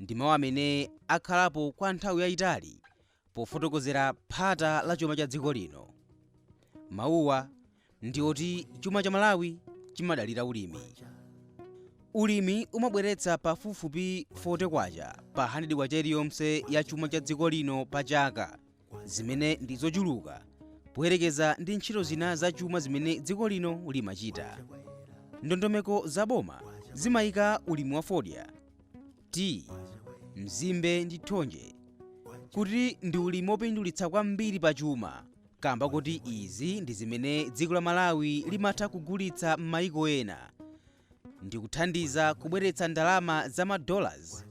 ndi mawu amene akhalapo kwa nthawi yayitali pofotokozera phata la chuma cha dziko lino. Mawuwa ndi oti chuma cha Malawi chimadalira ulimi. Ulimi umabweretsa pafupifupi 40 kwacha pa 100 kwacha iliyonse ya chuma cha dziko lino pa chaka. zimene ndi zochuluka poyerekeza ndi ntchito zina zachuma zimene dziko lino limachita ndondomeko za boma zimayika ulimi wa fodya tiyi mzimbe ndi thonje kuti ndi ulimi wopindulitsa kwambiri pa chuma kamba koti izi ndi zimene dziko la malawi limatha kugulitsa m'mayiko ena ndikuthandiza kubweretsa ndalama za ma dollars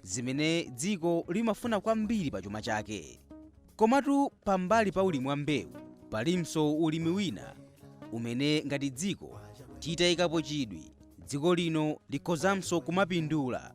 zimene dziko limafuna kwambiri pa chuma chake komatu pambali pa ulimi wa mbewu palinso ulimi wina umene ngati dziko titayikapo chidwi dziko lino likhozanso kumapindula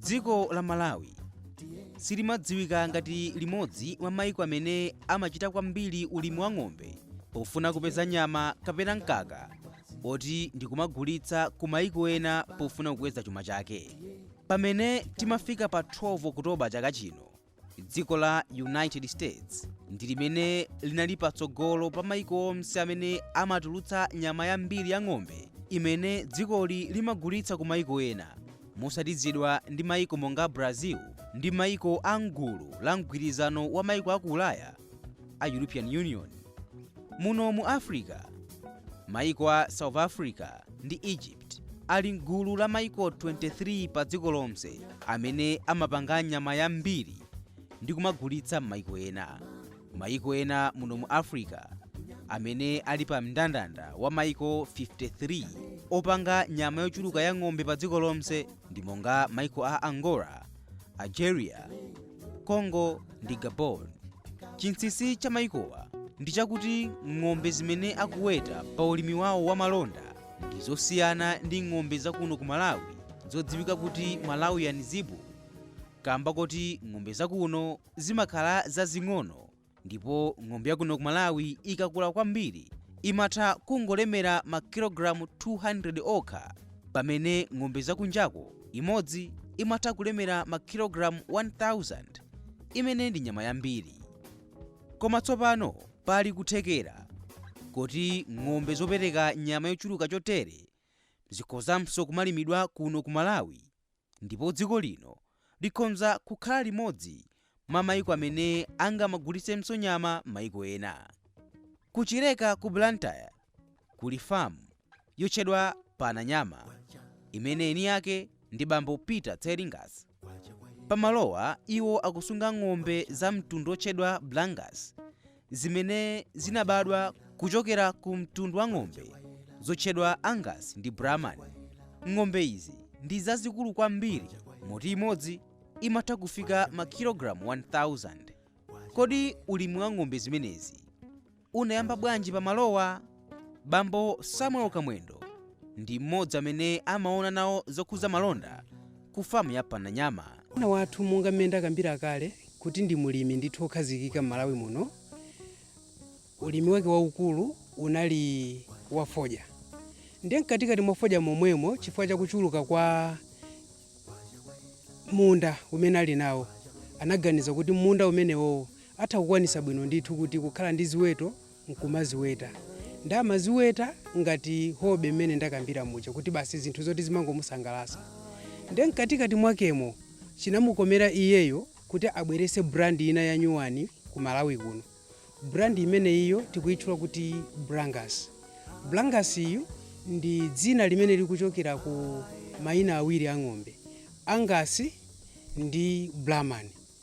dziko la malawi silimadziwika ngati limodzi mwa maiko amene amachita kwambiri ulimi wa ng'ombe pofuna kupeza nyama kapena mkaka oti ndikumagulitsa ku maiko ena pofuna kukweza chuma chake pamene timafika pa 12 okutoba chaka chino dziko la united states ndi limene linali patsogolo pa maiko onse amene amatulutsa nyama yambiri ya ng'ombe imene dzikoli limagulitsa ku maiko ena motsatizidwa ndi maiko monga brazil ndi maiko a mgulu la mgwirizano wa maiko a ku ulaya a european union muno mu africa maiko a south africa ndi egypt ali mgulu la maiko 23 pa dziko lonse amene amapanga nyama yambiri ndi kumagulitsa m'maiko ena maiko ena muno mu africa amene ali pa mndandanda wa maiko 53 opanga nyama yochuluka ya ng'ombe pa dziko lonse ndi monga maiko a angola algeria congo ndi gabon chinsinsi cha mayikowa ndi chakuti ng'ombe zimene akuweta pa ulimi wawo wa malonda ndi zosiyana ndi ng'ombe zakuno ku malawi zodziwika kuti malawian zebu kamba koti ng'ombe zakuno zimakhala zazing'ono Ndipo ng'ombe yakuno ku Malawi ikakula kwambiri imatha kungolemera makilogalamu 200 okha pamene ng'ombe zakunjako imodzi imatha kulemera makilogalamu 1,000. Imene ndi nyama yambiri. Koma tsopano pali kuthekera koti ng'ombe zopereka nyama yochuluka chotere zikhozanso kumalimidwa kuno ku Malawi Ndipo dziko lino likhonza kukhala limodzi mwa maiko amene angamagulitsenso nyama maiko ena. Ku Chileka ku Blantyre kuli farm yotchedwa Pananyama imene eni ake ndi bambo Peter Tseringas. Pamalowa iwo akusunga ng'ombe za mtundu otchedwa Brangus zimene zinabadwa kuchokera ku mtundu wa ng'ombe zotchedwa Angus ndi Brahman. Ng'ombe izi ndi zazikulu kwambiri moti imodzi imatha kufika makilogalamu 1,000. Kodi ulimi wa ng'ombe zimenezi unayamba bwanji pa malowa? Bambo Samuel Kamwendo ndi mmodzi amene amaona nawo zokhudza malonda ku famu ya Pananyama. Bwana wathu monga mmene ndakambira kale kuti ndi mlimi ndithu wokhazikika m'Malawi muno, ulimi wake waukulu unali wa fodya. Ndiye mkatikati mwa fodya momwemo chifukwa cha kuchuluka kwa munda umene ali nawo, anaganiza kuti m'munda umenewowo atha kukwanitsa bwino ndithu kuti kukhala ndi ziweto nkumaziweta. Nde amaziweta ngati hobby mmene ndakambira muja kuti basi zinthu zoti zimangomusangalasa. Nde mkatikati mwakemo chinamukomera iyeyo kuti abwerese brand ina yanyuwani ku Malawi kuno. Brand imeneyiyo tikuyitchula kuti Brangus. Brangus yu ndi dzina limene likuchokera ku mayina awiri a ng'ombe, Angus ndi Brahman.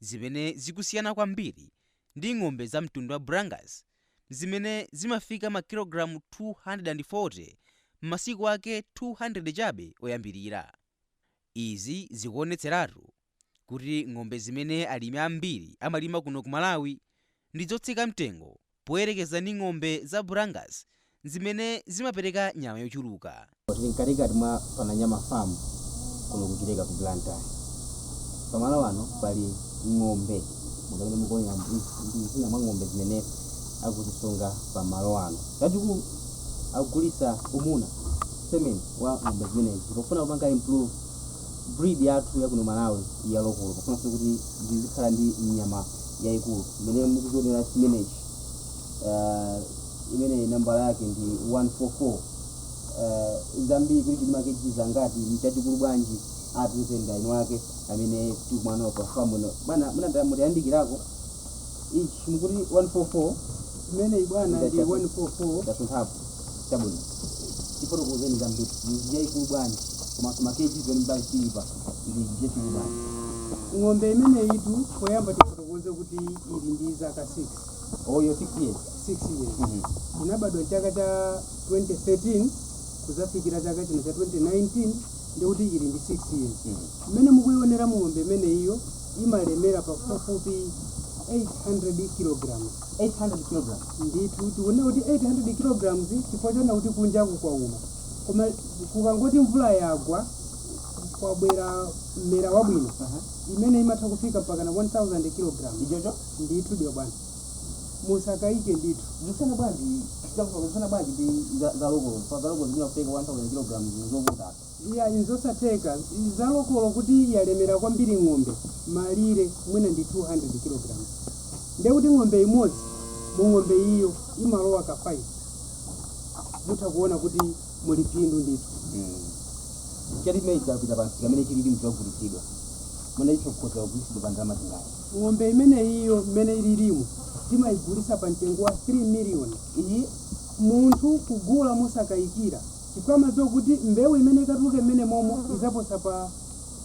zimene zikusiyana kwambiri ndi ng'ombe za mtundu wa Brangus zimene zimafika makilogalamu 240 m'masiku ake 200 chabe oyambirira. Izi zikuonetseratu kuti ng'ombe zimene alimi ambiri amalima kuno ku Malawi ndi zotsika mtengo poyerekeza ndi ng'ombe za Brangus zimene zimapereka nyama yochuluka. Tili mkatikati mwa Pananyama Farm kuno ku Chileka ku Blantyre. Pamalo ano pali ng'ombe monga mmene mukuonera izi ndi zina mwa ng'ombe zimene akuzisunga pamalo ano. Chachikulu akugulitsa umuna, semen, wa ng'ombe zimenezi pofuna kupanga improve. Breed yathu yakuno Malawi ya lokolo pofuna kuti zizikhala ndi nyama yaikulu mmene mukuzionera chimenechi uh, imene nambala yake ndi 144 uh, zambiri kuti chilima KG zingati nchachikulu bwanji atiuze ndani wake amene tikumanawo pa famu ino bwana munanda mutayandikirako ichi mukuti 144 Imeneyi bwana ndi Ndachapa. 144 ndasunthapo Chabwino, tifotokozeni zambiri. Ndi yaikulu bwanji? Komanso ma kg zimene mwati chilipa ndi chachikulu bwanji? Ng'ombe imeneyitu poyamba tifotokoze kuti ili ndi zaka 6, Iyo 6 years. 6 years. Mhm. Inabadwa chaka cha 2013 kuzafikira chaka chino cha 2019 ndikuti ili ndi 6 years. Mhm. Mmene mukuioneramu ng'ombe imeneyiyo imalemera pafupifupi 800 kilograms. 800 kg. Ndithu tikunena kuti 800 kg chifukwa chonena kuti kunjaku kwauma koma kukangoti mvula yagwa kwabwera mmera wabwino uh -huh. imene imatha kufika mpakana 1000 kg ichocho ndithu ndiyo bwana musakayike ndithu zisiyana bwanji chakufuna bwanji ndi za lokolo za lokolo zimene kufika 1000 kg zovuta Iyayi, n'zosatheka. Za lokolo kuti yalemera kwambiri ng'ombe, malire mwina ndi 200 kg. Ndiye kuti ng'ombe imodzi, mu ng'ombe iyo imalowa ka 5. Mutha kuona kuti muli phindu ndithu. Chali ichi chapita pa msika mmene chililimu chagulitsidwa. Mwina icho chikhoza kugulitsidwa pa ndalama zingati? Ng'ombe imene iyo mmene ililimu timayigulitsa pa mtengo wa 3 million. Iyi? Munthu kugula mosakayikira. chifukwa amadziwa kuti mbewu imene ikatuluke mmene momo idzaposa pa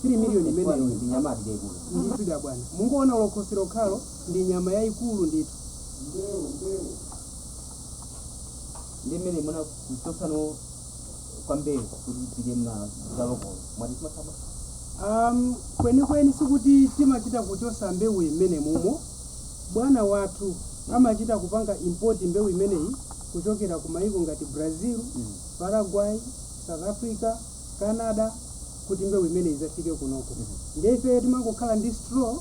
3 million imeneyo ndi nyama ati yaikulu ndithu da bwana mungoona khosi lokhalo ndi nyama yaikulu ndithu ndi mmene muna kuchotsano kwa mbewu kuti ipite mwina za lokolo mwati simasama um, kwenikweni sikuti timachita kuchosa mbewu mmene mumo Bwana wathu amachita kupanga import mbewu imeneyi kuchokera ku maiko ngati Brazil, Paraguay, South Africa, Canada kuti mbewu imeneyi idzafike kunoko. Ndiye ifeyo timangokhala ndi straw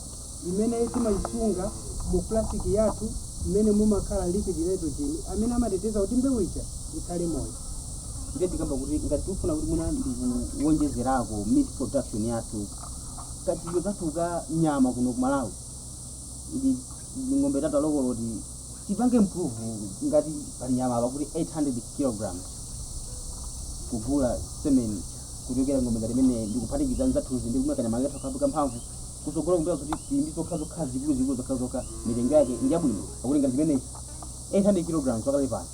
imene timaisunga mu flask yathu mmene mumakhala liquid nitrogen amene amateteza kuti mbewu ija ikhale moyo. Ndiye tikukamba kuti ngati tikufuna kuti mwina ndikuwonjezerako meat production yathu, kachitidwe kathu ka nyama kuno ku Malawi, ili ndi ng'ombe zathu za lokolo kuti tipange improve ngati pali nyama apa kuti 800 kilograms kugula semen kuchokera ng'ombe ngati imene ndikuphatikiza n'zathuzi ndi kumweka nyama yathu kabuka mphamvu kusogolo kubwera kuti tili ndi zokha zokha zikulu zikulu zokha zokha mitengo yake ndi yabwino pakuti ngati zimenezi 800 kilograms walandila pano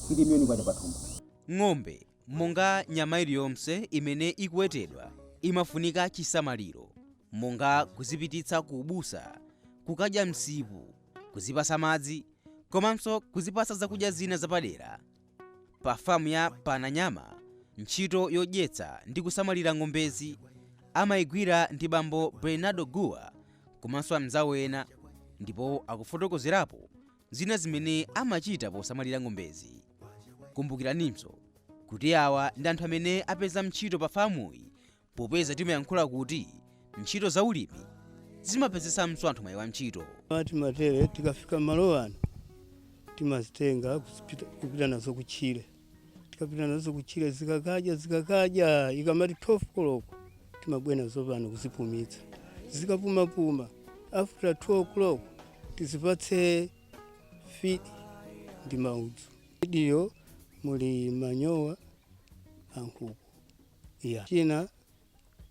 kuti miliyoni kwacha pathumba ng'ombe Monga nyama iliyonse imene ikuwetedwa imafunika chisamaliro, monga kuzipititsa ku ubusa, kukadya msipu, kuzipatsa madzi, komanso kuzipatsa zakudya zina zapadera, pa famu ya Pananyama ntchito yodyetsa ndi kusamalira ng'ombezi amaigwira ndi bambo Bernardo Guwa komanso amnzawo ena ndipo akufotokozerapo zina zimene amachita posamalira ng'ombezi. Kumbukiraninso kuti awa ndi anthu amene apeza ntchito pa famuyi popeza timayankhula kuti ntchito za ulimi zimapezetsanso anthu mwayi wa ntchito. Timatere tikafika malo ano timazitenga kupita nazo kutchire. tikapita nazo kutchire zikakadya zikakadya ikamati 12 koloko timabwera nazo pano kuzipumitsa zikapumapuma after 2 koloko tizipatse feed ndi maudzu fidiyo muli manyowa ankhuku ya china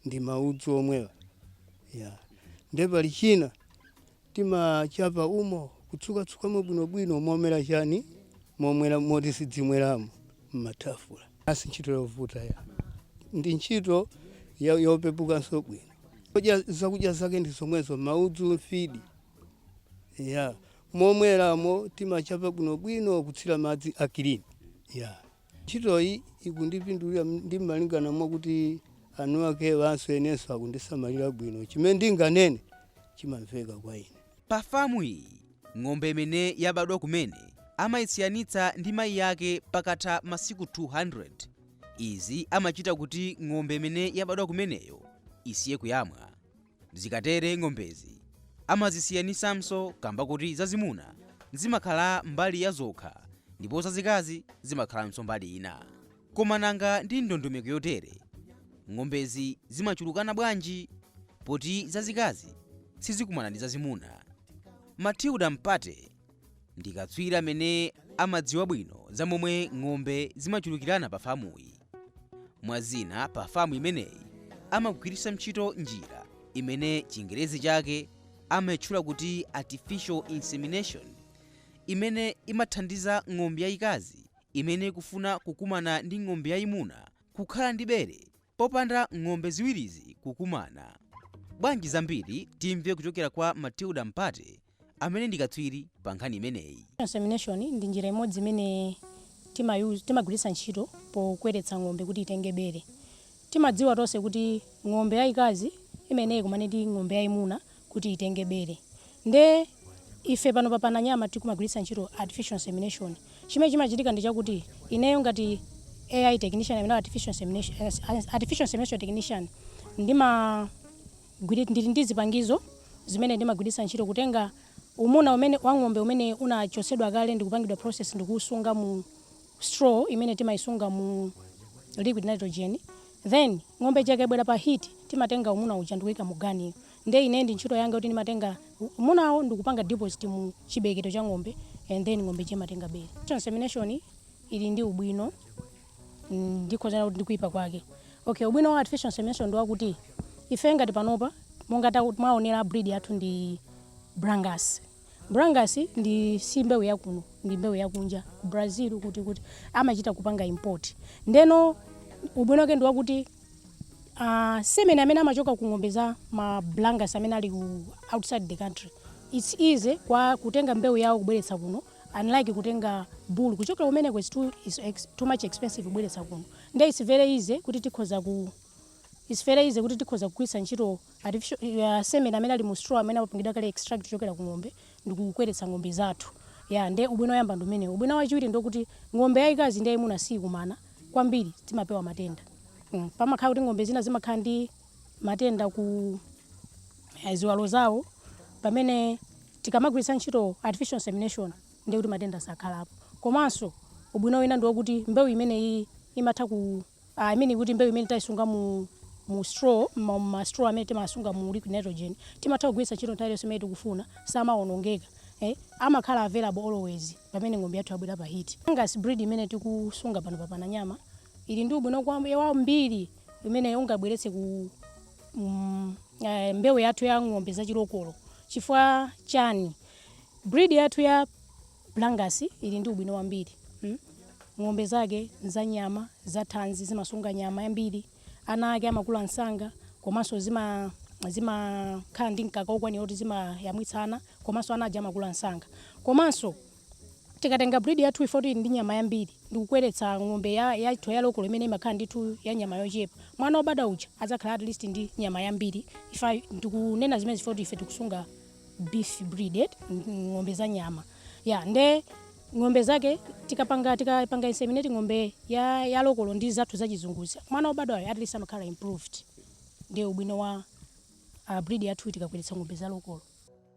ndi maudzu omwewa ya nde pali china timachapa umo kutsukatsukamo bwinobwino momwera chani momwera moti sidzimweramo mmathafu si ntchito yovuta ya ndi ntchito ya- yopepukanso bwino Kudya- zakudya zake ndi zomwezo maudzu mfidi ya momweramo timachapa bwinobwino kutsira madzi akilini ya Ntchitoyi ikundipindulira ndi malingana mwakuti eniakewanso enenso akundisamalira bwino chimene ndinganene chimamveka kwa ine. Pa famu iyi ng'ombe imene yabadwa kumene amayisiyanitsa ndi mayi ake pakatha masiku 200. Izi amachita kuti ng'ombe imene yabadwa kumeneyo isiye kuyamwa. Zikatere ng'ombezi amazisiyanisanso kamba koti zazimuna zimakhala mbali ya zokha ndipo zazikazi zimakhalanso mbali ina. Koma nanga ndi ndondomeko yotere ng'ombezi zimachulukana bwanji poti zazikazi sizikumana ndi zazimuna? Matilda Mpate. ndi katswiri amene amadziwa bwino za momwe ng'ombe zimachulukirana pa famuyi mwa zina pa famu imeneyi amagwiritsa ntchito njira imene chingerezi chake amayitchula kuti artificial insemination imene imathandiza ng'ombe yayikazi imene ikufuna kukumana ndi ng'ombe yayimuna kukhala ndi bere popanda ng'ombe ziwirizi kukumana bwanji zambiri timve kuchokera kwa matilda mpate amene ndi katswiri pa nkhani imeneyi. Insemination ndi njira imodzi imene tima use, timagwiritsa ntchito pokweretsa ng'ombe kuti itenge bere. Timadziwa tonse kuti ng'ombe yayikazi imayenera ikumane ndi ng'ombe yayimuna kuti itenge bere. Nde ife pano pa Pananyama tikumagwiritsa ntchito artificial insemination. Chimene chimachitika ndi chakuti ineyo ngati AI technician kapena artificial insemination, artificial insemination technician ndima, Ndili ndi zipangizo zimene ndimagwiritsa ntchito kutenga umuna wa ng'ombe umene unachotsedwa kale ndikupangidwa process ndikuwusunga mu straw imene timayisunga mu liquid nitrogen then ng'ombe ija ikabwera pa heat timatenga umuna uja ndikuyika mu gun-yo nde ine ndi ntchito yanga kuti ndimatenga umunawo ndikupanga deposit mu chibeketo cha ng'ombe and then ng'ombe ija imatenga bere. Insemination ili ndi ubwino. ndikhoza kunena kuti ndi kuyipa kwake. Okay, ubwino wa artificial insemination ndi wakuti ife ngati panopa monga taku- mwaonera breed yathu ndi Brangus. Brangus ndi si mbewu yakuno, ndi mbewu yakunja ku Brazil kuti amachita kupanga import. Ndeno ubwino wake ndi wakuti uh, semen amene amachoka ku ng'ombe za ma Brangus amene ali outside the country it's easy kwa kutenga mbewu yawo kubweretsa kuno unlike kutenga bull kuchokera kumeneko is too, is ex, too much expensive kubweretsa kuno nde it's very easy kuti tikhoza ku it's very easy kuti tikhoza kugwiritsa ntchito artificial uh, semen amene ali mu straw amene apangidwa kale extract kuchokera ku ng'ombe ndikukweretsa ng'ombe zathu ya nde ubwino woyamba ndi umenewo ubwino wachiwiri ndi kuti ng'ombe yayikazi ndi yayimuna siyikumana kwambiri timapewa matenda mm. pamakhala kuti ng'ombe zina zimakhala ndi matenda ku eh, ziwalo zawo pamene Tikamagwiritsa ntchito artificial insemination ndiye kuti matenda sakhalapo komanso ubwino wina ndi wokuti mbewu imeneyiyi imatha ku I mean kuti mbewu imene tayisunga mu mu straw m'ma m'ma straw amene timasunga mu liquid nitrogen timatha kugwiritsa ntchito nthawi iliyonse imene tikufuna samawonongeka eh amakhala available always pamene ng'ombe yathu yabwera pa heat. Brangus breed imene tikusunga pano pa Pananyama ili ndi ubwino kwam, wambiri umene ungabweretse ku mbewu yathu ya ng'ombe za chilokolo chifukwa chani? Breed yathu ya Brangus ili ndi ubwino wambiri. Ng'ombe zake za nyama, za thanzi, zimasunga nyama yambiri, ana ake amakula msanga komanso zimakhala ndi mkaka wokwanira kuti zimayamwitsa ana komanso ana aja amakula msanga. Komanso. Tikatenga breed yathu ifoti ili ndi nyama yambiri ndikukweretsa ng'ombe ya yathu ya lokolo imene imakhala ndithu ya nyama yochepa, mwana obadwa uja adzakhala at least ndi nyama yambiri ifa ndikunena zimenezi ifoti ife tikusunga beef breed eti ng'ombe za nyama ya nde ng'ombe zake tikapanga tikapanga inseminate ng'ombe ya ya lokolo ndi zathu za chizunguzi mwana obadwayo at least amakhala improved ndi ubwino wa uh, breed yathu tikakweretsa ng'ombe za lokolo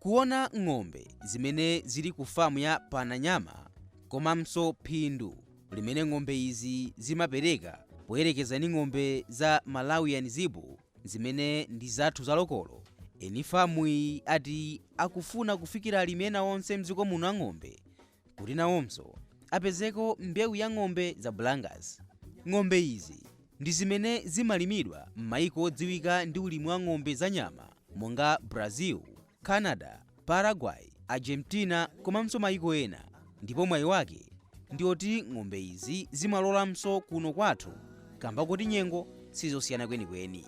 kuona ng'ombe zimene zili ku famu ya Pananyama komanso phindu limene ng'ombe izi zimapereka poyerekeza ndi ng'ombe za Malawian Zebu zimene ndi zathu zalokolo eni famu iyi ati akufuna kufikira alimi ena onse mdziko muno a ng'ombe kuti nawonso apezeko mbewu ya ng'ombe za Brangus. Ng'ombe izi ndi zimene zimalimidwa m'mayiko odziwika ndi ulimi wa ng'ombe za nyama monga Brazil, Canada, Paraguay, Argentina komanso mayiko ena ndipo mwayi wake ndi oti ng'ombe izi zimalolanso kuno kwathu kamba koti nyengo sizosiyana kwenikweni.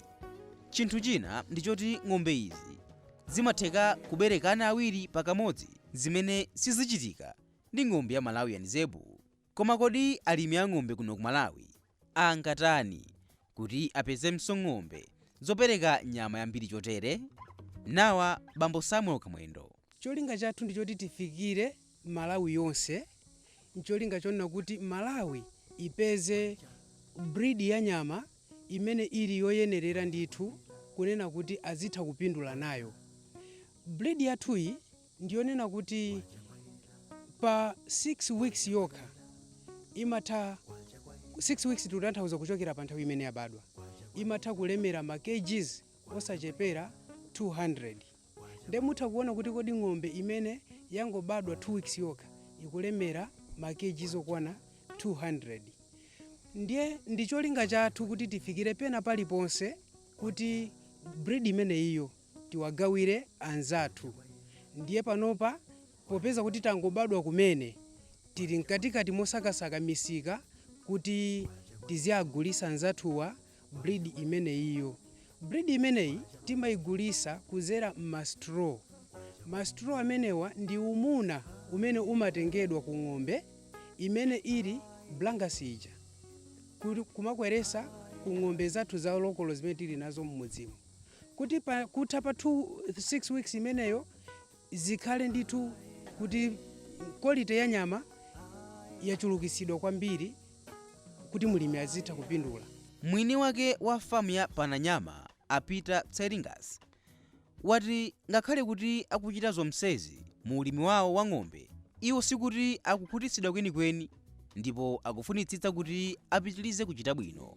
Chinthu china ndi choti ng'ombe izi zimatheka kubereka ana awiri pakamodzi. zimene sizichitika ndi ng'ombe ya Malawian zebu. Koma kodi alimi a ng'ombe kuno ku Malawi angatani kuti apezemso ng'ombe zopereka nyama yambiri chotere? Nawa bambo Samuel Kamwendo. Cholinga chathu ndi choti tifikire Malawi yonse ncholinga chonena kuti Malawi ipeze breed ya nyama imene ili yoyenerera ndithu kunena kuti azitha kupindula nayo. Breed yathuyi ndi yonena kuti pa 6 weeks yokha imatha 6 weeks tikutanthauza kuchokera pa nthawi imene yabadwa, imatha kulemera ma kgs osachepera 200. Nde mutha kuona kuti kodi ng'ombe imene yangobadwa 2 weeks yokha ikulemera ma kgs okwana 200. Ndiye ndi cholinga chathu kuti tifikire pena paliponse kuti breed imeneyiyo tiwagawire anzathu. Ndiye panopa popeza kuti tangobadwa kumene tili mkatikati mosakasaka misika kuti tiziagulisa anzathuwa. breed imeneyiyo. Breed imeneyi timaigulisa kuzera mma straw. Ma straw amenewa ndi umuna umene umatengedwa ku ng'ombe imene ili brangus ija kumakweresa ku ng'ombe zathu za lokolo zimene tili nazo mmudzimu kuti kutha pa 6 weeks imeneyo zikhale ndithu kuti quality ya nyama yachulukitsidwa kwambiri. kuti mlimi azitha kupindula. Mwini wake wa famu ya Pananyama, a Peter Tseringas, wati ngakhale kuti akuchita zomsezi mu ulimi wawo wa ng'ombe, iwo sikuti akukhutitsidwa kwenikweni ndipo akufunitsitsa kuti apitilize kuchita bwino.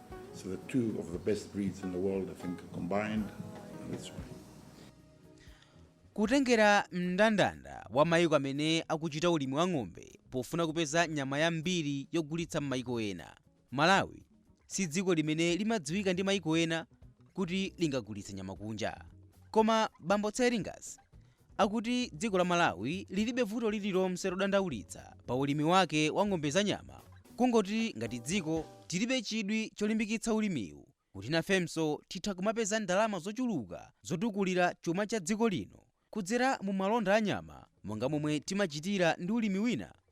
So the two of the best breeds in the world, I think, combined. That's why. kutengera mndandanda wa maiko amene akuchita ulimi wa ng'ombe pofuna kupeza nyama yambiri yogulitsa m'maiko ena malawi si dziko limene limadziwika ndi maiko ena kuti lingagulitse nyama kunja koma bambo tseringas akuti dziko la Malawi lilibe vuto lililonse lodandaulitsa pa ulimi wake wa ng'ombe za nyama kungoti ngati dziko tilibe chidwi cholimbikitsa ulimiwu kuti nafenso titha kumapeza ndalama zochuluka zotukulira chuma cha dziko lino kudzera mu malonda a nyama monga momwe timachitira ndi ulimi wina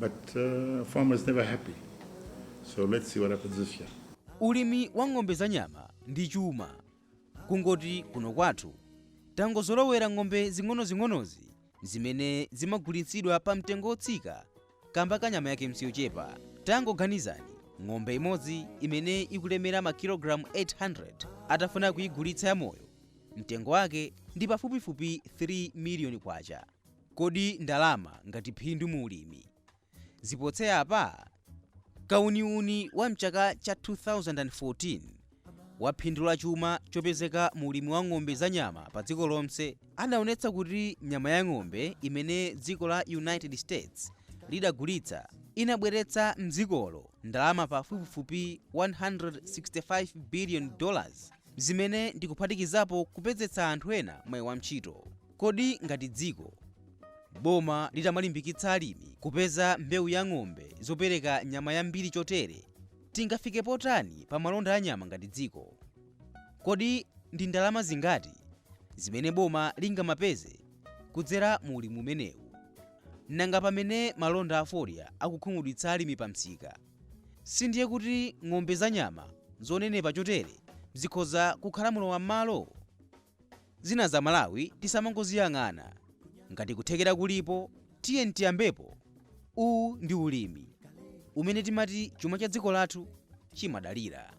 But uh, farmers never happy. So let's see what happens this year. Ulimi wa ng'ombe za nyama ndi chuma. Kungoti kuno kwathu tangozolowera ng'ombe zing'onozing'onozi zimene zimagulitsidwa pa mtengo wotsika kamba ka nyama yake nsiyochepa. Tangoganizani ng'ombe imodzi imene ikulemera makilogalamu 800 atafuna kuyigulitsa yamoyo mtengo wake ndi pafupifupi 3 miliyoni kwacha. Kodi ndalama ngati phindu mu ulimi zipose apa? Kauniuni wa m'chaka cha 2014 wa phindu la chuma chopezeka mu ulimi wa ng'ombe za nyama pa dziko lonse adaonetsa kuti nyama ya ng'ombe imene dziko la United States lidagulitsa inabweretsa m'dzikolo ndalama pafupifupi 165 biliyoni dollars zimene ndi kuphatikizapo kupezetsa anthu ena mwayi wa ntchito. Kodi ngati dziko, boma litamalimbikitsa alimi kupeza mbewu ya ng'ombe zopereka nyama yambiri chotere, tingafike pati pa malonda a nyama ngati dziko? Kodi ndi ndalama zingati zimene boma lingamapeze kudzera mu ulimi umenewu? Nanga pamene malonda a fodya akukhumudwitsa alimi pa msika, si ndiye kuti ng'ombe za nyama zonenepa chotere zikhoza kukhala mlowam'malo? Zinazi aMalawi tisamangoziyang'ana. Ngati kuthekera kulipo tiyeni tiyambepo. Uwu ndi ulimi umene timati chuma cha dziko lathu chimadalira.